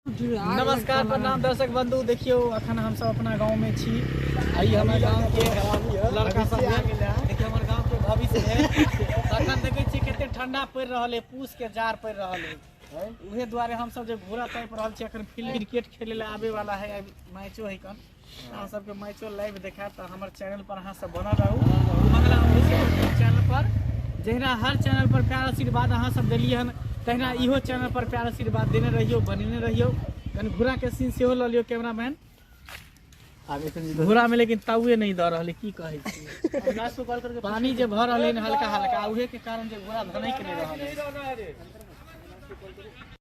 नमस्कार प्रणाम दर्शक बंधु देखियो अखन हम सब अपना गांव में छी आई हमर गांव के लड़का सब देखियो हमर गांव के भविष्य है अखन देखे छी कते ठंडा पड़ रहल है पूस के जार पड़ रहल है उहे द्वारे हम सब जे घोड़ा तैप रहल छी अखन फील्ड क्रिकेट खेले ले आवे वाला है मैचो है कन अहाँ सबके मैचो लाइव देखायब तऽ हमर चैनल पर अहाँ सब बनल रहू मंगला ऑफिशियल चैनल पर जहिना हर चैनल पर प्यार आशीर्वाद अहाँ सब देलिए हन तहिना इहो चैनल पर प्यार आशीर्वाद देने रहियो बनेने रहियो कनि घोड़ा के सीन सेहो लऽ लियो कैमरामैन आगे से नहीं घोड़ा में लेकिन ताउए नहीं दऽ रहल है, की कहै छी पानी जे भऽ रहलै हन हल्का हल्का उहे के कारण जे घोड़ा धनै के नहि रहल है।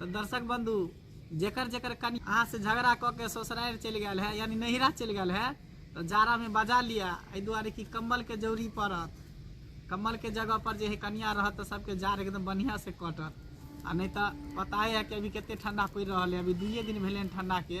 तऽ दर्शक बंधु जेकर जेकर कनि अहाँ से झगड़ा कऽ के ससुरारि चलि गेल है यानी नैहरा चलि गेल है तऽ जाड़ा में बजा लिअ एहि दुआरे कि कम्बल के जरूरी पड़त कम्बल के जगह पर जे है कनिया रहत तऽ सबके जाड़ एकदम बढ़िया से कटत आ नहीं तऽ पता है कि अभी कते ठंडा पड़ि रहल है अभी दुइये दिन भेलै हन ठंडा के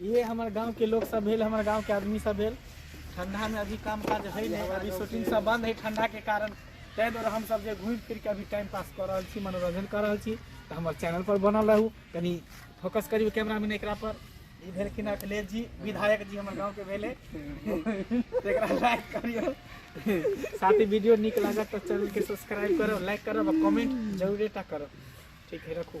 इहे हमर गाँंव के लोक सब भेल हमर गाँंव के आदमी सब भेल ठंडा मे अभी काम काज हय नै अभी शूटिंग सब बंद हय ठंडा के कारण तै दुआरे हम सब जे घुम फिर के अभी टाइम पास क रहल छी मनोरंजन क रहल छी त हमर चैनल पर बनल रहू कनी फोकस करियौ कैमरा मैन एकरा पर ई भेलखिन अखिलेश जी विधायक जी हमर गाँव के भेले एकरा लाइक करियौ साथ ही वीडियो नीक लागत त चैनल के सब्सक्राइब करब लाइक करब आ कमेंट जरूरे टा करब ठीक है रखू